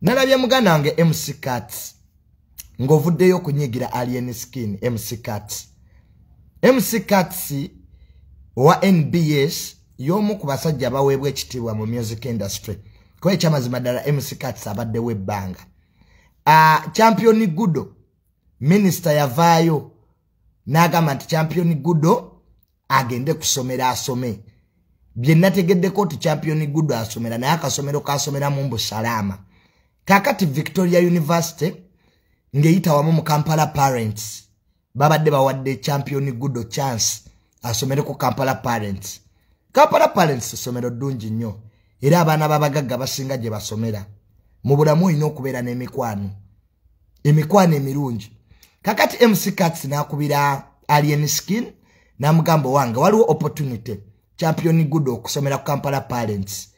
nalabye muganda wange mc cat ng'ovuddeyo okunyigira alien skin mc cat mc cats owa nbs y'omu ku basajja abaweebwa ekitiibwa mu music industry kuba ekyamazima ddala mc cats abaddewo ebbanga ah, champion gudo minisita yavaayo n'agamba nti champion gudo agende kusomero asome byenategeddeko nti champion gudo asomera naye akasomero kasomeramu mbu salaama kakati victoria university ng'eyita wamu mu kampala parents babadde bawadde champion gudo chance asomereko kampala parents kampala parents somero ddungi nnyo era abaana babagagga basinga gye basomera mu bulamu olina okubeera n'emikwano emikwano emirungi kakati mc cats nakubira alien skin namugamba wange waliwo opportunity champion good okusomera ku kampala parents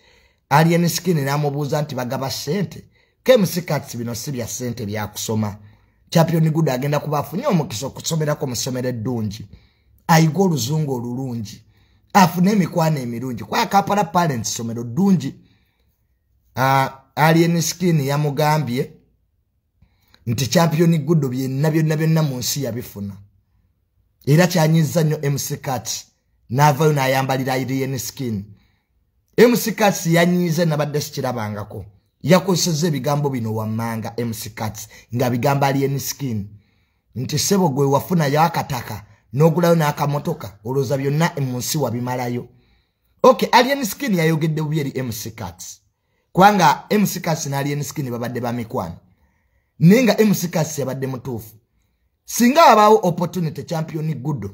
alien skin namubuuza nti bagaba sente kmc cats bino si bya sente byakusoma champion good agenda kuba afunye omukisa okusomerako musomero eddungi ayige oluzungu olulungi afune emikwano emirungi kwaya kampala parents somero ddungi uh, alien skin yamugambye nti champion gudo byonna byonna byonna mu nsi yabifuna era kyanyiza nnyo mccat n'avayo n'ayambalira alien skin mccat yanyiize nabadde sikirabangako yakozeseza ebigambo bino wammanga mccat nga bigamba alien skin nti sebo gwe wafunayo akataka n'ogulayo n'akamotoka olowooza byonna mu nsi wabimalayo ok alien skin yayogedde bubi eri mccats kubanga mccats ne alien skin babadde bamikwano naye nga mccats yabadde mutuufu singa wabaawo opportunity champion gudo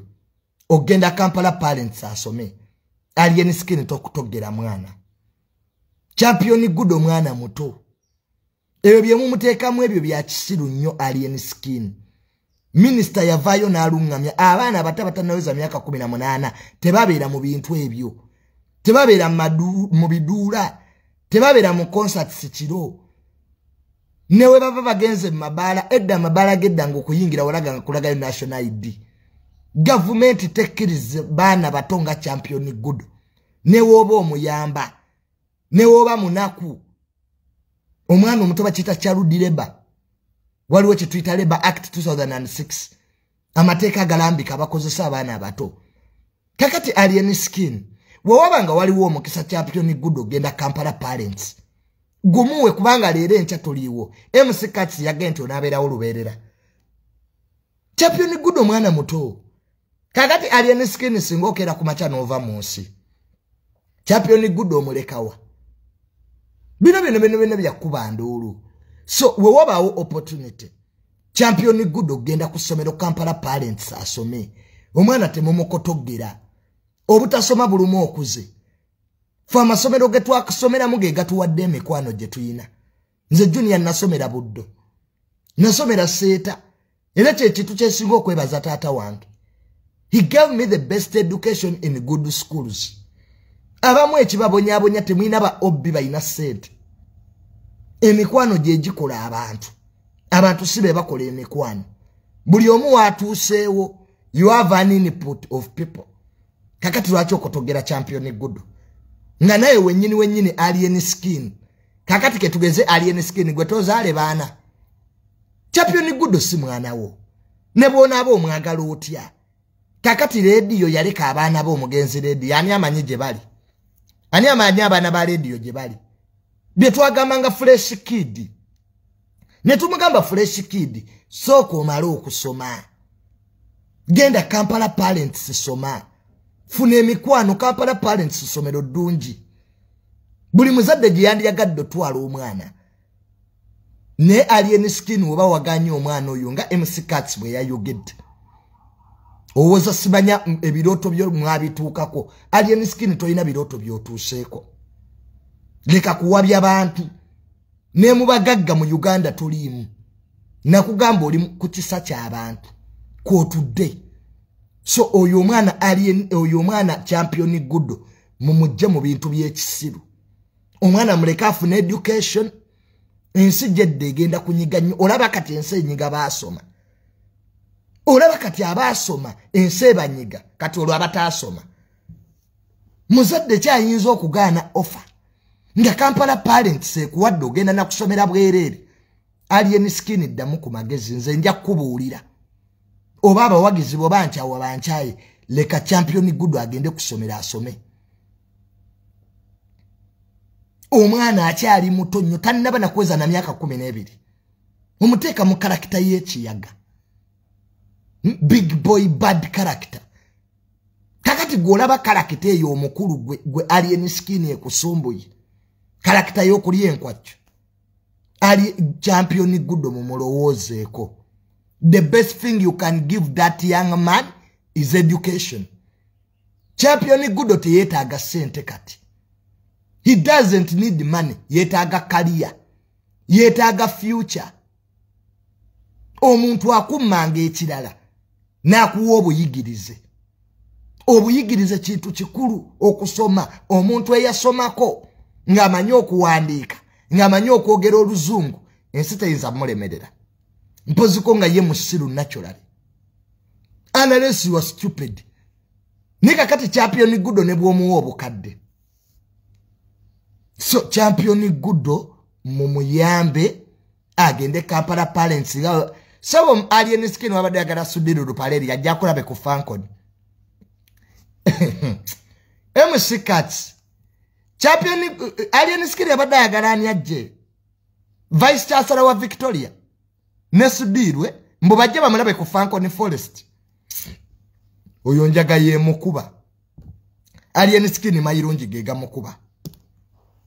ogenda kampala parents asome alien skin tokutogera mwana champion gudo mwana muto ebyo byemumuteekamu ebyo byakisiru nnyo alien skin minisita yavaayo n'aluŋŋamya abaana abato abatannaweza myaka 18 tebabeera mu bintu ebyo tebabeera mu biduula tebabeera mu concerts kiro newe baba bagenze mu mabaala edda amabaala gedda nga okuyingira walaga nga kulagayo national id gavumenti tekkirize baana bato nga championi gudo newooba omuyamba newoba munaku omwana omuto bakiyita charudi leba waliwo kyetuyita leba act 2006 amateeka agalambika abakozesa abaana abato kakati alien skin wewaba nga waliwo omukisa champion good ogenda kampala parents gumuwe kubanga leero enkya toliiwo mckats yagenti onabeerawo lubeerera champion good omwana muto kakati alien skin singa okera ku makya n'ova mu nsi champion gudo omulekawa bino bino bino bino byakuba nduulu so we wabaawo opportunity champion gudo okugenda ku ssomero kampala parents asome omwana temumukotogera obutasoma bulumu okuze fe amasomero getwakusomeramu ge gatuwadde emikwano gye tulina nze junior nasomera buddo nasomera seeta era kyekintu kyesinga okwebaza taata wange he gave me the best education in good schools abamu ekibabonyabonya temulina ba obbi balina sente emikwano gyegikola abantu abantu si be bakola emikwano buli omu watuuseewo you have an input of people kakati lwaki okotogera champion gudu nga naye wenyini wenyini alien skin kakati ketugeze alien skin gwe tozaale baana champion gudo si mwana wo ne bwonaaba omwagala otya kakati leediyo yaleka abaana be omugenzi leediyo ani amanyi gye bali ani amanyi abaana ba leediyo gye bali bye twagamba nga fresh kid ne tumugamba fresh kid sooka omale okusoma genda kampala parents soma funa emikwano kampala parents somero ddungi buli muzadde gye yandiyagadde otwala omwana ne alien skin oba waganye omwana oyo nga mccats bwe yayogedde owoza simanya ebirooto byo mwabituukako alien skin tolina birooto byotuuseeko leka kuwabya bantu nemubagagga mu uganda toliimu nakugamba oli ku kisa kyabantu kwotudde so oyo omwana alien oyo omwana champion gudo mumujje mu bintu byekisiru omwana muleke afuna education ensi gyedda egenda kunyiga nnyo olaba kati ensi enyiga baasoma olaba kati abaasoma ensi ebanyiga kati olwo abataasoma muzadde kyayinza okugaana offer nga kampala parents ekuwadde ogenda nakusomera bwereere alien skin ddamu ku magezi nze nja kukubuulira oba abawagizi bo bankyawa bankyaye leka champion gudu agende kusomera asome omwana akyali muto nnyo tannaba nakuweza na myaka kumi n'ebiri mumuteeka mu karakita y'ekiyaga hmm? big boy bad character kakati gwolaba karakita eyo omukulu gwe alien skin ekusumbuye karakita y'okulya enkwakyo ali champion gudo mumulowoozeeko the best thing you can give that young man is education champion gudo teyetaaga sente kati he doesn't need money yetaaga kaliya yetaaga future omuntu akummanga ekirala n'akuwa obuyigirize obuyigirize kintu kikulu okusoma omuntu eyasomako ng'amanyi okuwandiika ng'amanyi okwogera oluzungu ensi teyinza mulemerera mpoziko nga ye musiru naturally analesi wa stupid naye kakati championi gudo ne bwomuwa obukadde so championi gudo mumuyambe agende kampala parents nga sebo alien skin wabadde agala sudiru lupaleri yajja akulabe ku fankoni mc cats champion alien skin yabadde ayagala ani ajje vice chancellor wa victoria ne sudirwe mbu bajje bamulabe ku fankoni forest oyo njaga yemukuba alien skin mayirungi gegamukuba